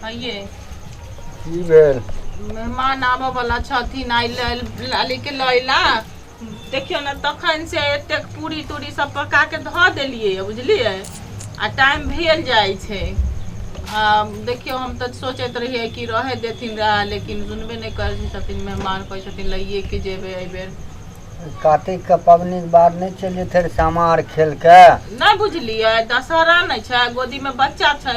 आइए की भेल मेहमान आबऽ वाला छथिन आइ ल- लाली के लैला देखियौ ने तखन से एतेक पूरी तूरी सब पका के धऽ देलियै बुझलियै आ टाइम भेल जाइ छै आ देखियौ हम तऽ सोचैत रहियै कि रहै देथिन रहए लेकिन सुनबे नहि करै छथिन मेहमान कहै छथिन लैए के जेबै एहिबेर कातिक के पबनी के बाद नहि चलि जेतै सामा आर खेल के नहि बुझलियै दशहरा नहि छै गोदी मे बच्चा छै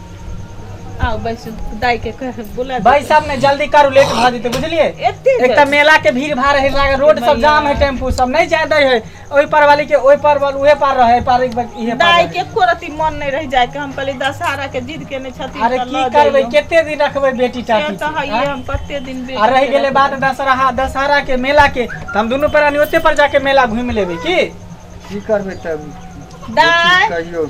आओ बैसू दाई के कह बुला दे। भाई साहब ने जल्दी करू लेट भऽ जेतै बुझलियै एते एक तऽ मेला के भीड़ भाड़ है लागे रोड सब भैया। जाम है टेम्पू सब नहीं जाए दै है ओहि पार वाली के ओहि पार वाल उहे पार रहे पार एक बार इहे पार दाई रहे। के एको रति मन नहीं रह जाए के हम कहली दशहरा के जिद के नहीं छथिन अरे तऽ की लऽ करबै जइयो। केते दिन रखबै बेटी से टाटी तऽ हइये आँय? हम कते दिन बेटी आ रहि के गेलै रखबै। बात दशहरा दशहरा के मेला के तऽ हम दुनू प्राणी ओते पर जाके मेला घुमि लेबै की की करबै तब दाई कहियो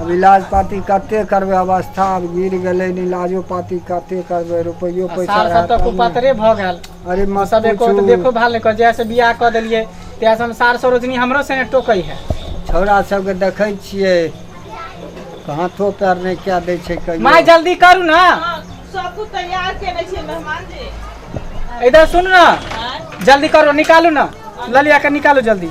आब इलाज पाती कते करबै अवस्था आब गिर गेलै इलाजो पाती कते करबै रुपैयो आ पैसा सार सब रहत तऽ तब ने। कुपातरे भऽ गेल अरे ओ मत सब एको रति पूछू देखो भाल नहि कर जहिया से बियाह कऽ देलियै तहिया से हम सार सरोजनी हमरो संगे टोकै है छौड़ा सबके देखै छियै हाथो पैर नहि कए दै छै कहियो माय जल्दी करू ने सब कुछ तैयार केने छियै मेहमान जी इधर सुन ने जल्दी करू निकालू ने ललिया के निकालू जल्दी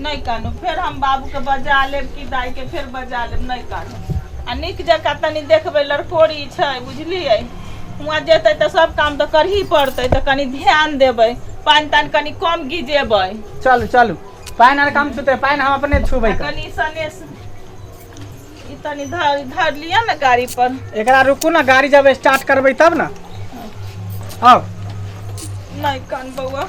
नहि कानू फेर हम बाबूके बजा लेब कि दाइके फेर बजा लेब नहि कानू आ नीक जकाँ तनी देखबै लड़कोरी छै बुझलियै हुआँ जेतै तऽ सब काम तऽ करही पड़तै तऽ कनी ध्यान देबै पानि तानि कनी कम गिजेबै चलू चलू पानि आर कम छुते पानि हम अपने छुबै कर कनी सनेस ई तनी धर धर लिअ ने गाड़ी पर एकरा रुकू ने गाड़ी जब स्टार्ट करबै तब ने आउ नहि कान बौआ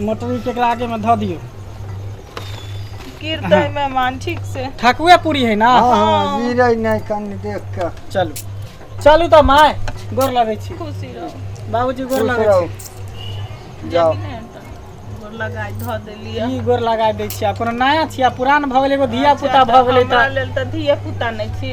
मोटर ई केकरा आगे में धऽ दियौ गिरतै मेहमान ठीक से ठकुए पूरी है ना हाँ हाँ गिरे नहीं कन देख के चलू चलू तऽ माय गोर लगै छी खुशी रहू बाबूजी गोर खुश लगै रहू छी जाओ जेबी ने तऽ गोर लगाय धऽ देलियै ई गोर लगा दै छी आ कोनो नया छी आ पुरान भऽ गेलै एगो धिया पुता भऽ गेलै हमरा तऽ लेल तऽ धिया पुता नहि छी